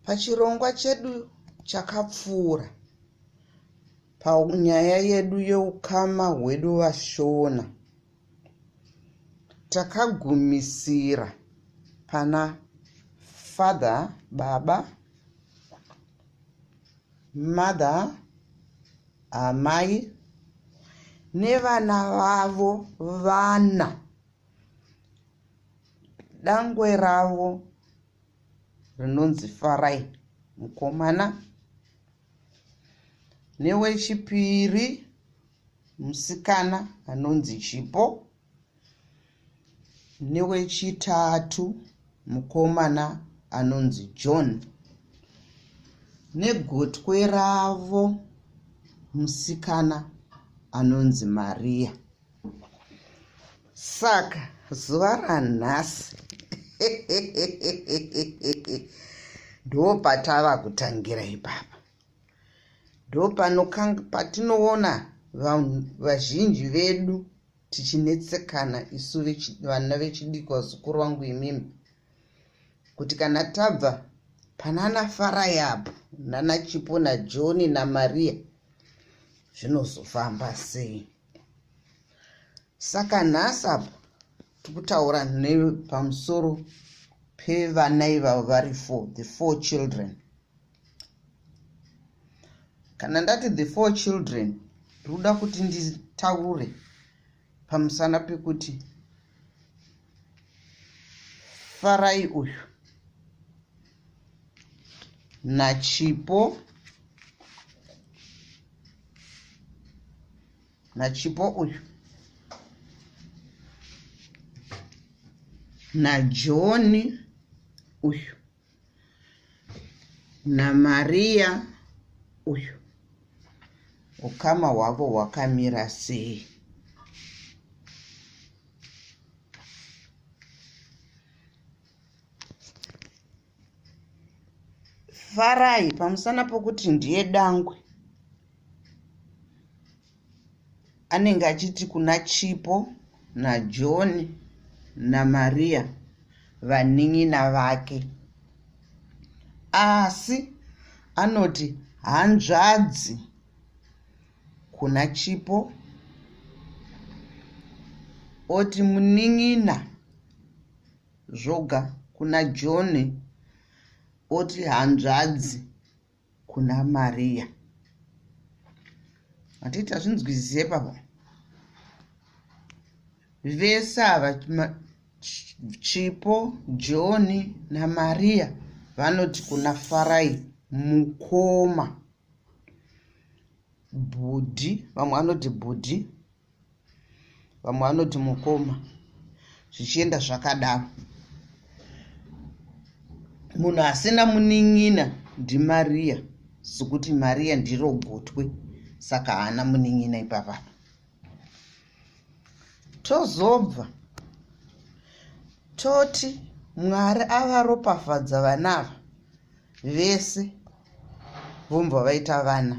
Pachirongwa chedu chakapfuura panyaya yedu yeukama hwedu vashona takagumisira pana father baba mother amai nevana vavo vana dangwe ravo rinonzi farai mukomana newechipiri musikana anonzi chipo newechitatu mukomana anonzi john negotwe ravo musikana anonzi mariya saka zuva ranhasi ndopatava kutangira ipapa ndopano patinoona vanhu vazhinji vedu tichinetsekana isu vana vechidiki vazukuru vangu imimi kuti kana tabva panana farai apo nana chipo najoni namaria zvinozofamba sei saka nhasi apo tikutaura nepamusoro pevana ivavo vari four the four children kana ndati the four children ndikuda kuti nditaure pamusana pekuti farai uyu nachipo nachipo uyu najoni uyu naMaria uyu ukama hwavo hwakamira sei farai pamusana pokuti ndiye dangwe anenge achiti kuna chipo najohn namaria vanin'ina vake asi anoti hanzvadzi kuna chipo oti munin'ina zvoga kuna john oti hanzvadzi kuna Maria. Hatiti hazvinzwizise pavo. Vese ava Chipo, John naMaria vanoti kuna Farai mukoma. Bhudhi, vamwe vanoti bhudhi, vamwe vanoti mukoma zvichienda zvakadaro munhu asina munin'ina ndimariya sekuti mariya ndiro gotwe saka haana munin'ina ipavana tozobva toti mwari avaropafadza vanava vese vombva vaita vana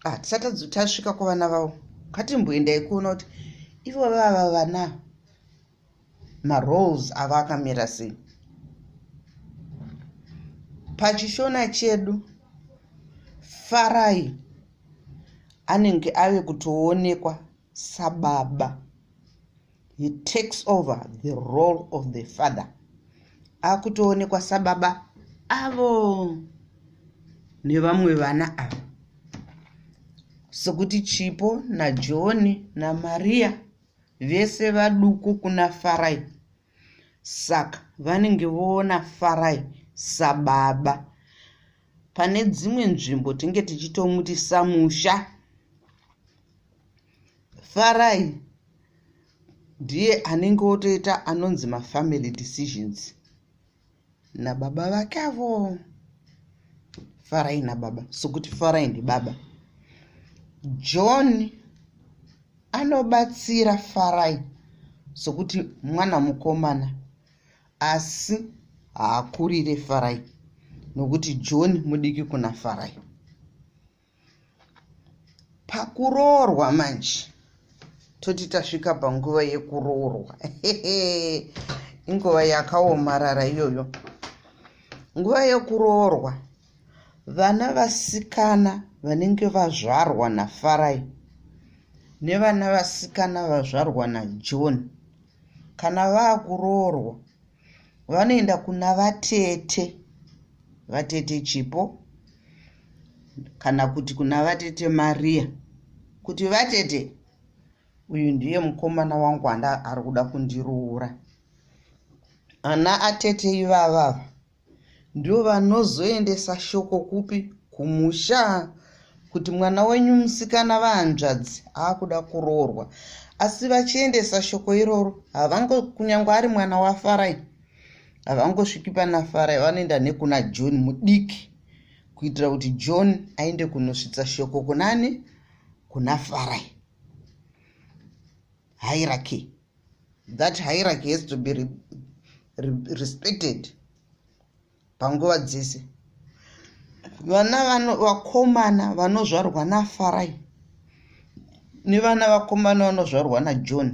ah, tisati tasvika kuvana vavo ngatimboendai kuona kuti ivo vava vana maroles avo akamira sei pachishona chedu farai anenge ave kutoonekwa sababa he takes over the role of the father akutoonekwa sababa avo nevamwe vana ava sekuti chipo najoni namariya vese vaduku kuna farai saka vanenge voona farai sababa pane dzimwe nzvimbo tinge tichitomuti samusha farai ndiye anenge otoita anonzi mafamily decisions nababa vake avo farai nababa sokuti farai ndibaba john anobatsira farai sokuti mwana mukomana asi haakurire farai nokuti john mudiki kuna farai pakuroorwa manje toti tasvika panguva yekuroorwa inguva yakaomarara iyoyo nguva yekuroorwa vana vasikana vanenge vazvarwa nafarai nevana vasikana vazvarwa najohn kana vaakuroorwa vanoenda kuna vatete vatete chipo kana kuti kuna vatete mariya kuti vatete uyu ndiye mukomana wangu anda ari kuda kundiroora ana atete ivavava ndovanozoendesa shoko kupi kumusha kuti mwana wenyu musikana vahanzvadzi aakuda kuroorwa asi vachiendesa shoko iroro havango kunyange ari mwana wafarai havangosviki pana farai vanoenda nekuna john mudiki kuitira kuti john aende kunosvitsa shoko kunani kuna farai hairaki that hierarchy has to be re, re, respected panguva dzese vana vano vakomana vanozvarwa nafarai nevana vakomana vanozvarwa najohn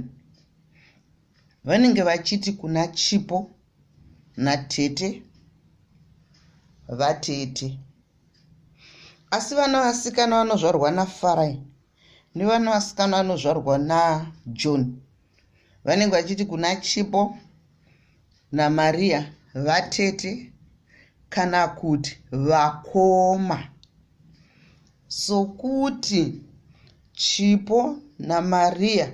vanenge vachiti kuna chipo natete vatete asi vana vasikana vanozvarwa nafarai nevana vasikana vanozvarwa najohn vanenge vachiti kuna chipo namaria vatete kana kuti vakoma sokuti chipo namaria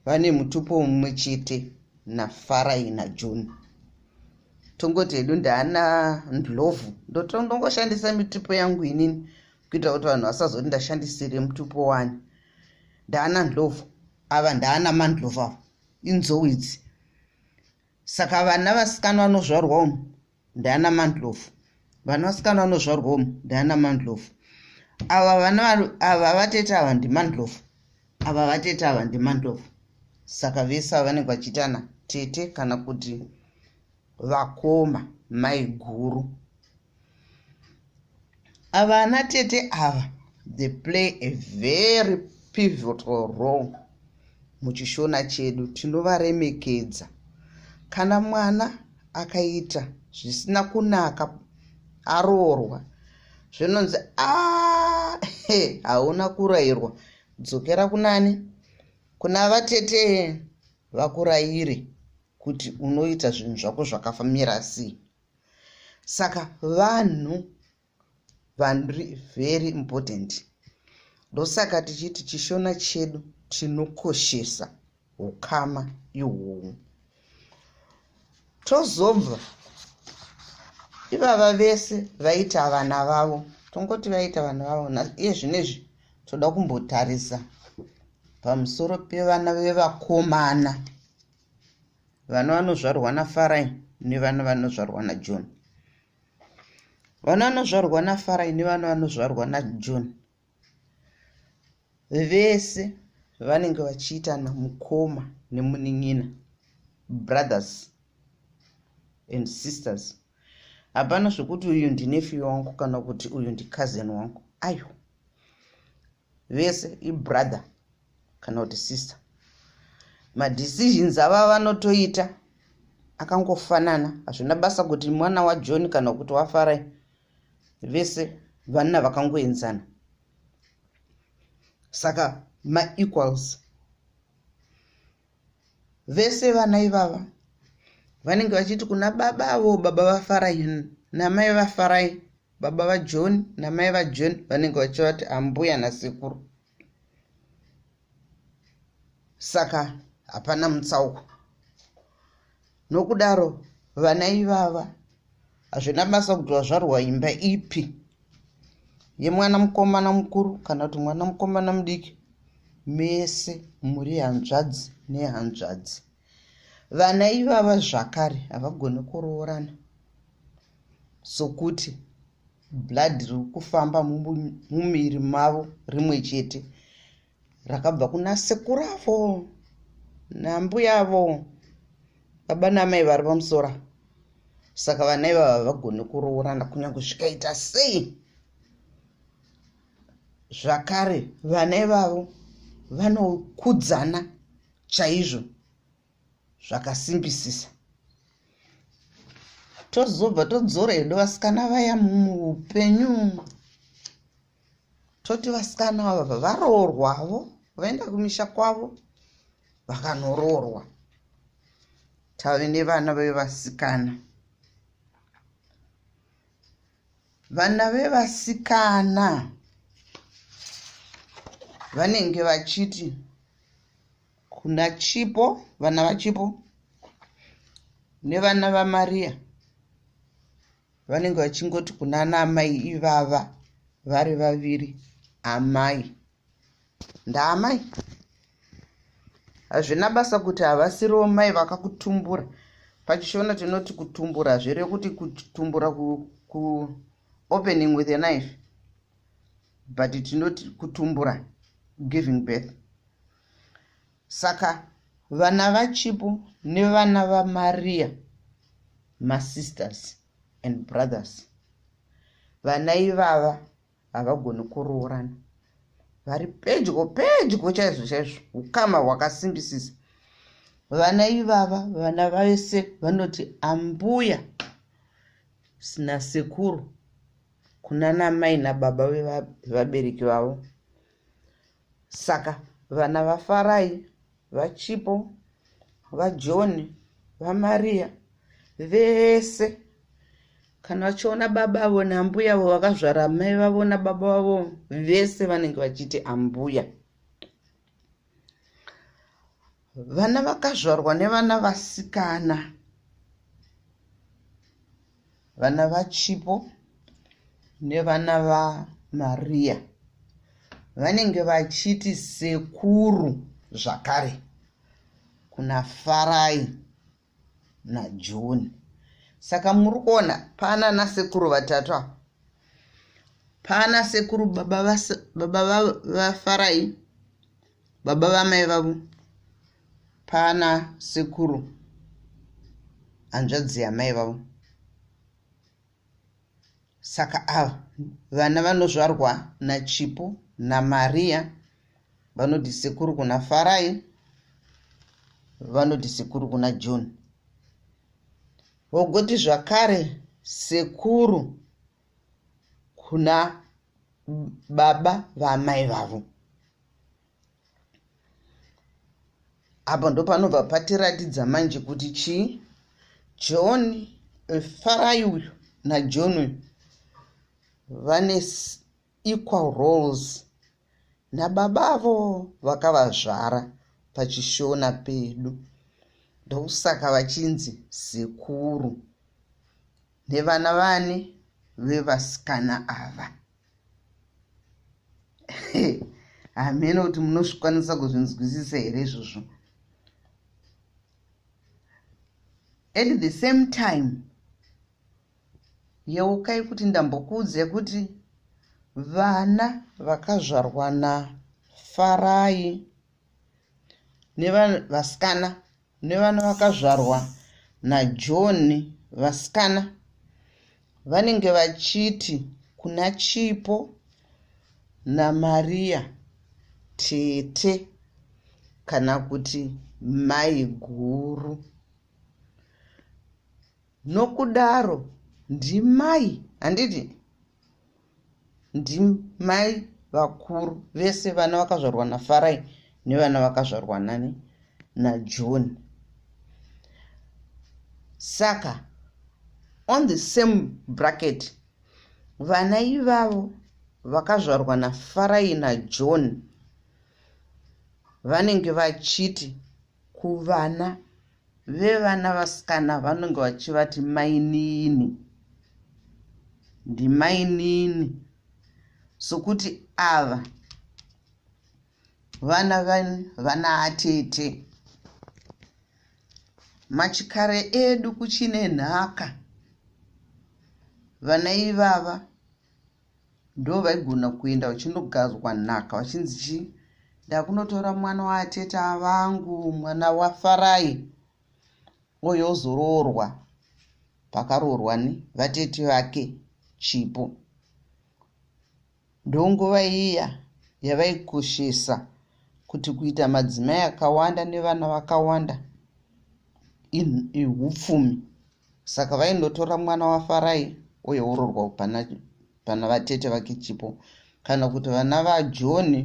vane mutupo mumwe chete nafarai najohn tongoti hedu ndaana ndlovu ndotondongoshandisa mitupo yangu inini kuitira kuti vanhu vasazoti ndashandisire mutupo wani ndaana ndlovu ava ndaana mandlovu ava inzou idzi saka vana vasikana vanozvarwa umu ndaana mandlovu vana vasikana vanozvarwa umu ndaana mandlovu ava vana ava vatete ava ndimandlovu ava vatete ava ndimandlovu saka vese ava vanenge vachiitana tete kana kuti vakoma maiguru ava ana tete ava they play a very pivotal role muchishona chedu tinovaremekedza kana mwana akaita zvisina kunaka aroorwa zvinonzi ah, hauna kurayirwa dzokera kunani kuna vatete vakurayire kuti unoita zvinhu zvako zvakafamira sei saka vanhu vanri very important ndosaka tichiti chishona chedu tinokoshesa ukama ihwohwo tozobva ivava vese vaita vana vavo tongoti vaita vana vavo iye zvinezvi toda kumbotarisa pamusoro pevana vevakomana vana vanozvarwa nafarai nevana vanozvarwa najoni vana vanozvarwa nafarai nevana vanozvarwa najoni vese vanenge vachiitana mukoma nemunin'ina brothers and sisters hapana zvekuti uyu ndinefi wangu kana kuti uyu ndicousin wangu aiwa vese ibrother kana kuti sister madecisions ava vanotoita akangofanana hazvina basa kuti mwana wajohn kana kuti wafarai vese vanna vakangoenzana saka maequals vese vana ivava vanenge vachiti kuna baba avo baba vafarai namai vafarai baba vajohn namai vajohn vanenge vachivati ambuya nasekuru saka hapana mutsauko nokudaro vana ivava hazvina basa kuti vazvarwa imba ipi yemwana mukomana mukuru kana kuti mwana mukomana mudiki mese muri hanzvadzi nehanzvadzi vana ivava zvakare havagoni kuroorana sokuti blood riri kufamba mumiri mavo rimwe chete rakabva kuna sekuru avo nambuya avo baba namai vari pamusora saka vana ivava havagoni kuroorana kunyange zvikaita sei zvakare vana ivavo vanokudzana chaizvo zvakasimbisisa tozobva todzora hedu vasikana vaya muupenyu toti vasikana vava varoorwavo vaenda kumisha kwavo vakanoroorwa tave nevana vevasikana vana vevasikana vanenge vachiti Kuna Chipo, vana vaChipo nevana vaMaria vanenge vachingoti kuna ana amai ivava vari vaviri amai ndaamai hazvina basa kuti havasiriwo mai vakakutumbura pachishona tinoti kutumbura zvere kuti kutumbura kuopening with a knife but tinoti kutumbura giving birth saka vana vachipo nevana vamariya masisters and brothers vana ivava havagoni kuroorana vari pedyo pedyo chaizvo chaizvo ukama hwakasimbisisa vana ivava vana vese vanoti ambuya sina sekuru kuna namai nababa vevabereki vavo Saka vana vaFarai, vaChipo, vaJohn, vaMaria vese kana vachiona baba avo naambuya avo vakazvara mai vavo nababa vavo vese vanenge vachiti ambuya vana vakazvarwa nevana vasikana vana vachipo nevana vamariya vanenge vachiti sekuru zvakare kuna farai najoni saka muri kuona pana nasekuru vatatu ava pana sekuru baba vafarai baba vamai vavo pana sekuru hanzvadzi yamai vavo saka ava vana vanozvarwa nachipo namariya vanoti sekuru kuna farai vanoti sekuru kuna john vogoti zvakare sekuru kuna baba vamai vavo apa ndopanobva patiratidza manje kuti chii john eh, farai uyu najohn uyu vane equal roles nababa avo vakavazvara pachishona pedu ndokusaka vachinzi sekuru nevana vani vevasikana ava hameno kuti munozvikwanisa kuzvinzwisisa here izvozvo at the same time yeukai kuti ndambokuudze kuti vana vakazvarwa nafarai nevasikana nevana vakazvarwa naJohn vasikana vanenge vachiti kuna Chipo naMaria tete kana kuti mai guru nokudaro ndimai handiti ndimai vakuru vese vana vakazvarwa nafarai nevana vakazvarwa nani najohn saka on the same bracket vana ivavo vakazvarwa nafarai najohn vanenge vachiti kuvana vevana vasikana vanenge vachivati mainini ndimainini sokuti ava vana vana atete machikare edu kuchine nhaka vana ivava ndo vaigona kuenda vachindogadzwa nhaka vachinzi chii ndakunotora mwana waateta vangu mwana wafarai oyo ozoroorwa pakaroorwa ni vatete vake chipo ndonguva iya yavaikoshesa kuti kuita madzimai akawanda nevana vakawanda ihupfumi saka vaindotora mwana wafarai oyourorwa pana, pana vatete vake chipo kana kuti vana vajoni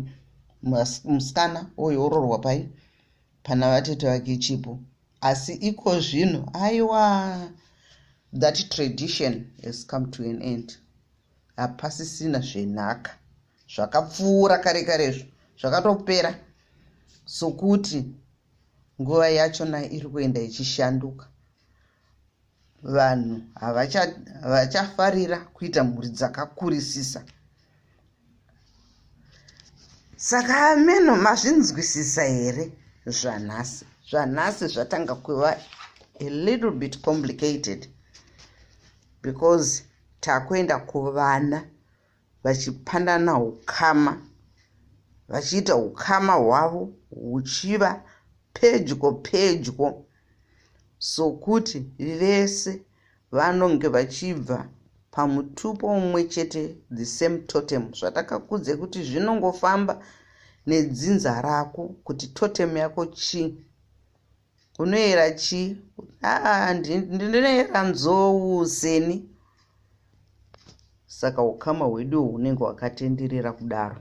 musikana oyourorwa pai pana vatete vake chipo asi iko zvino aiwa that tradition has come to an end hapasisina zvenhaka zvakapfuura kare karezvo zvakatopera sokuti nguva yachona iri kuenda ichishanduka vanhu havachafarira kuita mhuri dzakakurisisa saka ameno mazvinzwisisa here zvanhasi zvanhasi zvatanga kuva a little bit complicated because takuenda kuvana vachipandana ukama vachiita ukama hwavo huchiva pedyo pedyo sokuti vese vanonge vachibva pamutupo umwe chete the same totem zvatakakudze kuti zvinongofamba nedzinza rako kuti totem yako chii unoyera chi aa ndinoyera nzou seni saka ukama hwedu hunenge hwakatenderera kudaro